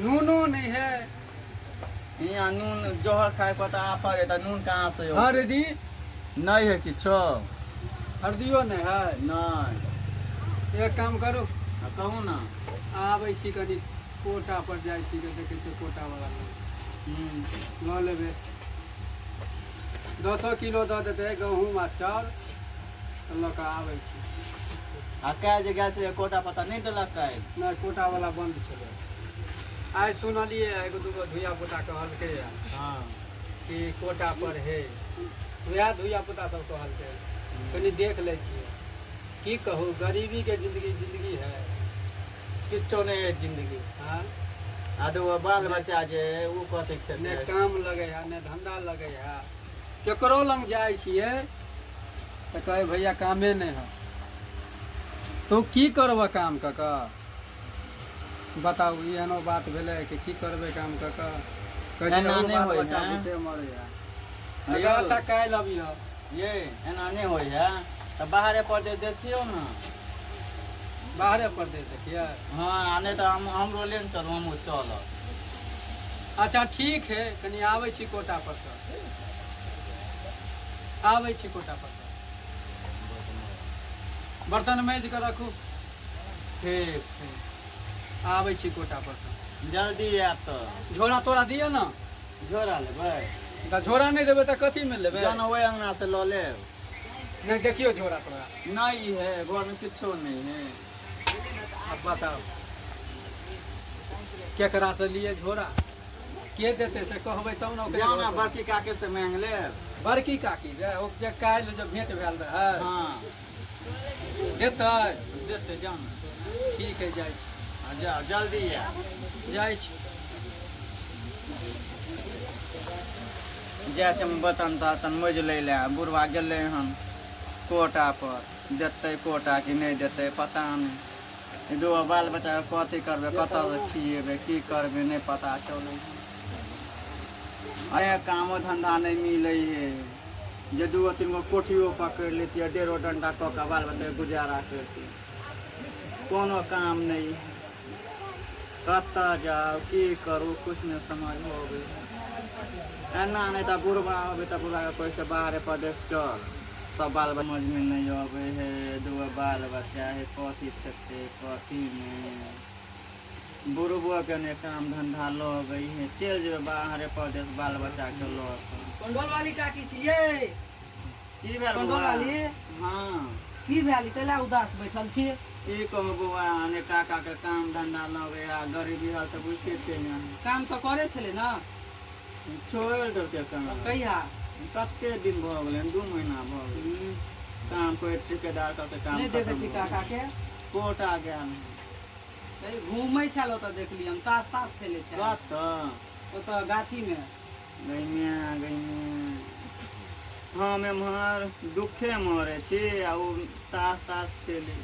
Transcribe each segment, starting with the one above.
Nuno नहीं है यहाँ नून जोहर खाए पर तो आप है तो नून कहाँ से हो हरदी नहीं है किछो हरदियो नहीं है नहीं एक काम करू हाँ, कहू ना आबै छी कनी कोटा पर जाइ छी के देखै छी कोटा वाला हम्म, लऽ लेबै दसो किलो दऽ देतै गहूँम आ चाउर लऽ कऽ आबै छी आ काल्हि जे गेल छलै कोटा पता नहि देलक काल्हि नहि कोटावला बन्द छलै आइ सुनलियै एगो दूगो धियापुता कहलकै हँ कि कोटा पर हे उएह धियापुता सब कहलकै कनि देख लै छियै की कहू गरीबीके जिन्दगी जिन्दगी है किछो नहि है जिन्दगी हँ आ दू बाल बच्चा जे ओ कथी छै नहि काम लगै है नहि धंधा लगै है केकरो लग जाइ छियै तऽ कहे भैया कामे नहि है तो की करबह काम कऽ कऽ बताउ ई एहनो बात भेलै कि की करबै काम कऽ कऽ कहियो एना नहि बाल होइ बच्चा है। भूखे मरैया तऽ यौ। अच्छा काल्हि अबिहऽ ये एना नहि होइए तऽ बाहरे पर जे देखियौ ने बाहरे परदेश देखियै हँ आ नहि तऽ हम हमरो लेन चलू हमहूँ चलब अच्छा ठीक है कनि आबै छी कोटा पर सँ आबै छी कोटा पर बर्तन माज कऽ रखू ठीक ठीक आबै छी कोटा पर जल्दी आयब तऽ झोरा तोरा दिअ ने झोरा लेबै तऽ झोरा नहि देबै तऽ कथीमे लेबै जहन ओहि अङ्गनासँ लऽ लेब नहि देखियौ झोरा तोरा नहि है घरमे किछो नहि है अब बताओ केकरा से लिए झोरा के देते से कहबै तब ने ओकरे जाओ ना घर पर। बड़की काके से मांग ले बड़की काकी जे ओ जे काल्हि जे भेंट भेल रहै हाँ देतै देते जाओ ना ठीक है जाइ छी हाँ, जाओ जल्दी आ जाइ छी जा चम बतन तन मज ले ले बुढ़वा गेले हन कोटा पर देतै कोर्ट आ कि नहि देतै पता नहि दू बाल बच्चाके कथी करबै कतऽसँ खिएबै की करबै नहि पता चलै छै कामो धन्धा नहि मिलै हे जे दू गो तीन गो कोठियो पकड़ि लेतियै डेढ़ो डंटा कऽ कऽ बाल बच्चाके गुजारा करितियै कोनो काम नहि कतऽ जाउ की करू किछु नहि समझ अबै एना नहि तऽ बुढ़बा अबै तऽ बुढ़बाके कहै छै बाहरे परदेश चल सब बाल समझमे नहि अबै हे दूगो बाल बच्चा हे कथी खेतै कथी नहि बुढ़बोके नहि काम धन्धा लऽ अबै हे चलि जेबै बाहरे परदेश बाल बच्चाके लऽ कऽ काकी छियै की भेल कंडो बौआ लाली हँ की भेल कैला उदास बैठल छी की कहू बौआ अने काका के काम धंधा लगे आ गरीबी हाल तऽ बुझते छै ने काम तऽ करे छलै ने छोड़ि देलकै काम कहिया कते दिन भऽ गेलै दू महीना भऽ गेलै काम कोइ ठेकेदार सबके काम नहि देखै खतम छी भऽ काका गेलै। के कोटा गेल घूमै छल ओतऽ देखलियै हम तास तास खेलै छल कतऽ ओतऽ गाछी मे गैमे गैमे हम एम्हर दुखे मरे छी आ ओ तास तास खेली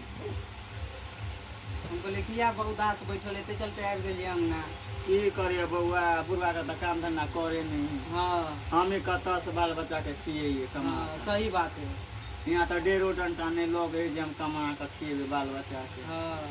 हम कहलियै किया बा उदास बैठल एते चलते आबि गेलियै अंगना की करिए बौआ बुढ़वा के तऽ काम धंधा करे नहीं है हँ हम ही कतऽ से बाल बच्चा के खियैये कमा हँ, कऽ? सही बात है यहाँ तऽ डेढ़ो डंटा नहि लगे है जे हम कमा कऽ खियेबै बाल बच्चा के हँ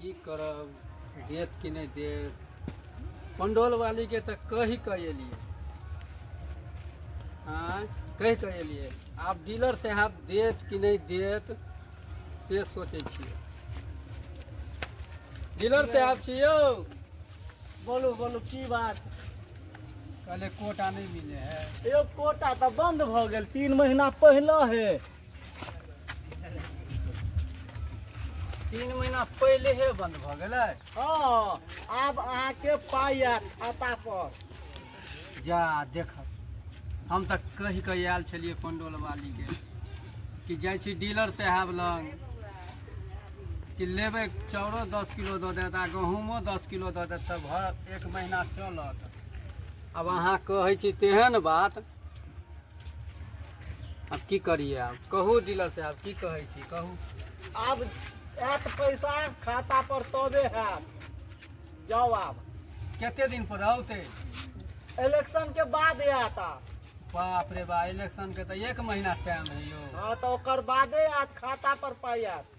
की करब देत कि नहि देत पंडोल वाली के तऽ कहि कऽ एलियै हाँ कहि कऽ एलियै आब डीलर साहब देत कि नहि देत से सोचै छियै डीलर साहब छियौ बोलू बोलू की बात कहले कोटा नहि मिले है यौ कोटा तऽ बंद भऽ गेल तीन महीना पहिले हे तीन महीना पहिले हे बंद भऽ गेलै हँ आब अहाँके पाइ आयत खाता पर जा देख हम तऽ कहि कऽ आयल छलियै पंडोल वाली के कि जाइ छी डीलर साहब लग कि लेबै चाउरो दस किलो दऽ देत आ गहूमो दस किलो दऽ देत तऽ भर एक महीना चलत आब अहाँ कहै छी तेहन बात अब की करिए आब कहू डीलर से आब की कहै छी कहू आब आयत पैसा खाता पर तबे हैत जाओ आब कते दिन पर औते इलेक्शन के बाद आयत आब बाप रे बा इलेक्शन के तो एक महीना टाइम है यो हाँ तो ओकर बादे आयत खाता पर पाई आयत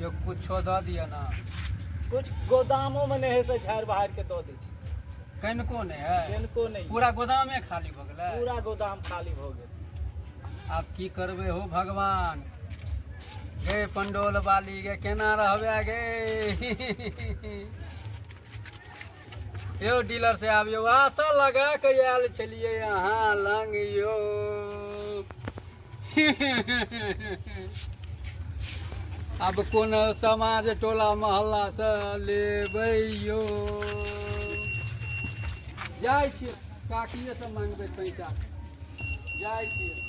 यो कुछो दऽ दिअ ना कुछ गोदामो में नहीं है से झाड़ बहार के दो दी कनिको नहि है किनको नहीं पूरा गोदामे खाली भऽ गेलै पूरा गोदाम खाली हो गए आब की करबै हो भगवान गे पंडोल वाली गे केना रहबै गे यौ डीलर से आब यौ आशा लगा के आयल छलियै अहाँ लग यौ आब कोन समाज टोला मोहल्ला से लेबै यौ जाइ छियै काकिए से मांगबै पैसा जाइ छियै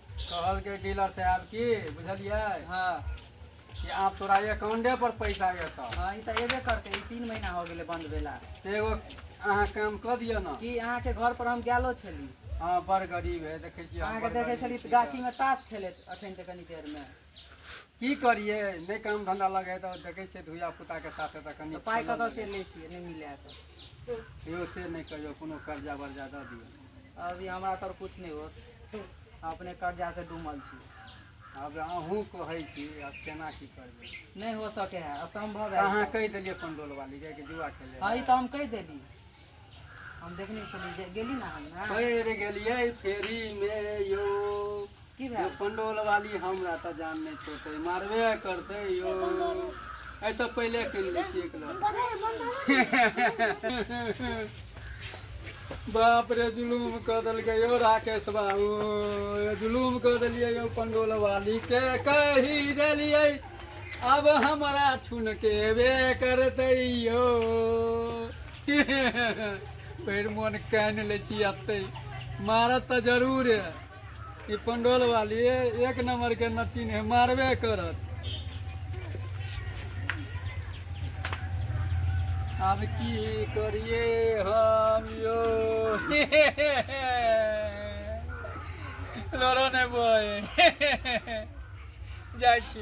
कहलकै डीलर साहब की बुझलियै हँ कि आब तोरा अकाउंटे पर पैसा एतौ हँ ई तऽ एबे करतै ई तीन महीना हो गेलै बन्द भेला से एगो अहाँ काम कऽ दिअ ने कि अहाँके घर पर हम गेलो छली हँ बड़ गरीब है देखै छियै अहाँ अहाँके बड़ देखे गरीब छली छी तऽ। गाछी में ताश खेलैत अखन तऽ कनी देर में की करिए नहीं काम धंधा लगे तो देखे छे धुया पुता के साथ तो कनी पाई कत से ले छी नहीं मिले तो यो से नहीं कहियो कोनो कर्जा वर्जा द दियो अभी हमरा तर कुछ नहीं होत अपने कर्जा से डूमल छी अब अहूँ कहे छी अब केना की करबे नहीं हो सके है असंभव है कहाँ कह दिलिए पंडोल वाली जाके जुआ खेले हां ई तो हम कह देली हम देखने छलियै जे गेली ने अहाँ ने पैर गेलियै फेरी मे यौ की यौ भेल पंडोल वाली हमरा तऽ जान नहि छोड़तै मारबे करतै यौ एहिसँ पहिले कीन लै छियै एक लहर। बाप रे जुलूम कऽ देलकै यौ राकेश बाबू जुलूम कऽ देलियै यौ पंडोल वाली के कहि देलियै अब हमरा छुनकेबे करतै यौ भरि मोन कानि लै छी एतै मारत तऽ जरूर है ई पंडोल वाली एक नंबर के नटीन है मारबे करत आब की करिए हम यो लोरो ने बोए जाइ छी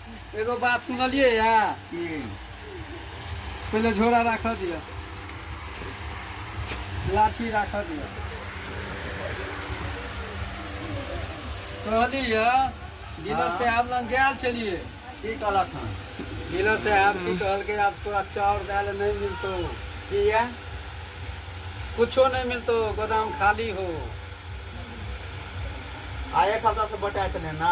एगो बात सुनलिए या की पहिले झोरा राख दिअ लाठी राख दिअ कहली या डीलर हाँ। साहब लग गए छलिए की कहलक हन डीलर साहब की कहलकै आब तोरा चाउर दाल नहीं मिलतो किया कुछो नहीं मिलतो गोदाम खाली हो आ एक हफ्ता से बटा छलै ना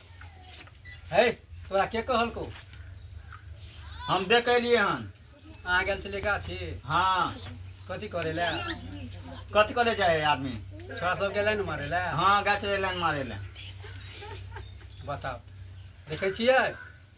है तोरा के कहलको हम देख अलिए हन आ गेल छलै गाछी हाँ कथी करे ले कथी करे जाए आदमी छोरा सब गेलै ने मारे ले हाँ गाछ लाइन मारे ले बताओ देखै छियै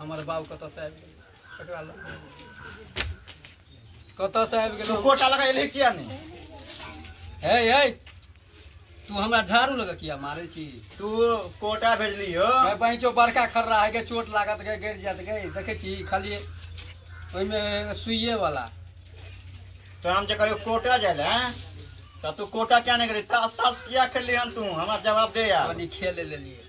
हमर बाबू कतऽसँ आबि गेल ककरा लग कतऽसँ आबि गेल कोटा लगा एलै किया नहि हे हे तू हमरा झाड़ू लगा किया मारै छी तू कोटा भेजली हो गए बहिचो बड़का खर्रा है के चोट लागत गए गिर जात गए देखे छी खाली ओहिमे सुइए वाला तो हम जे कहियो कोटा जाय ले तऽ तू कोटा किया नहि गेली तास तास किया खेलली हन तू हमरा जवाब दे यार कनी खेल लेलिए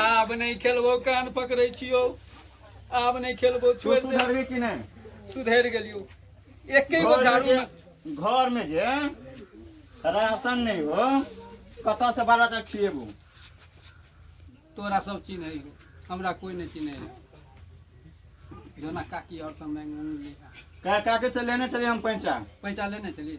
आब नहि खेलबो कान पकड़े छियो आब नहि खेलबो छोड़ सुधरबे कि नहीं सुधर गलियो एके गो झाड़ू घर में जे राशन नहीं हो कत से बाल बच्चा खिएबू तोरा सब चीज नहीं हो हमरा कोई नहीं चीज नहीं हो जोना काकी और सब मैं का काके से लेने चलिए हम पैसा पैसा लेने चलिए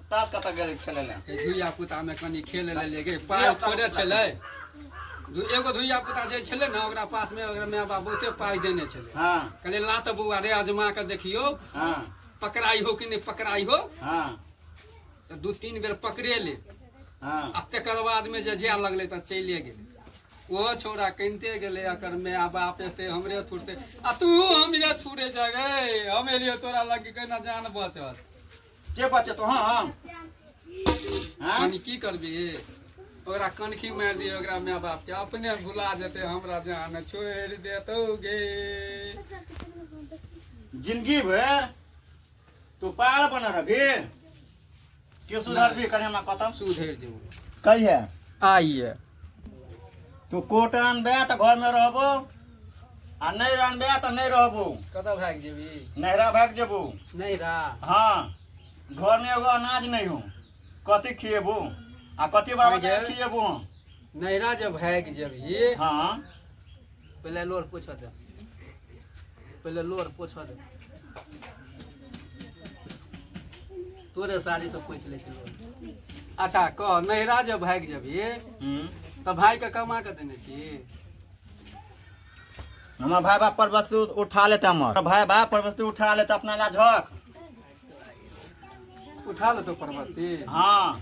तास कत गेल खेले ले धुइया पुता में कनी खेल लेलिए गे पाई थोड़े छले एगो धुइया पुता जे छले ना ओकरा पास में ओकरा माय बाप बहुते पाई देने छले हां कहले ला त बौआ रे अजमा के देखियो हां पकड़ाई हो कि नहीं पकड़ाई हो हां तो दू तीन बेर पकड़े ले हां आ तकर बाद में जे जाय लगले त चले गेले ओहो छोरा कनिते गेले अकर माय बाप एते हमरे थुरते आ तू हमरे थुरे जगे हम एलियो तोरा लग के ना जान बचत के बचे तो हाँ हाँ हाँ यानी की करबी ओकरा कनखी मारि दिए ओकरा माय बाप के अपने भुला जेते हमरा जान छोड़ि देतौ गे जिंदगी भर तू पार बन रही के सुधरबी कने हमरा कतम सुधरि जेबौ कहिया आइए तू कोट अनबे तऽ घर में रहबो आ नहीं अनबे तऽ नहीं रहबो कतऽ भाग जेबी नहरा भाग जेबो नहीं रा हाँ घर में एगो अनाज नहीं हो कथी खिएबो आ कथी बाबा के खिएबो हम नैरा जब भाग जेबी हाँ पहिले लोर पोछऽ दे पहिले लोर पोछऽ दे तोरे साड़ी से पोछ ले चलो अच्छा कह नैहरा जब भाग जबी हम्म। तो भाई के कमा के देने छी हमार भाई बाप पर वस्तु उठा लेता हमार भाई बाप पर वस्तु उठा लेता अपना ला झक उठा ले तो परबती हाँ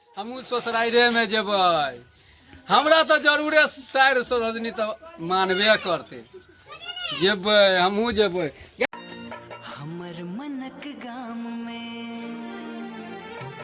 हमहूँ ससुराइरेमे जेबै हमरा तऽ जरूरे साइर सरोजनी तऽ मानबे करतै जेबै हमहूँ जेबै हमर मनक गाम में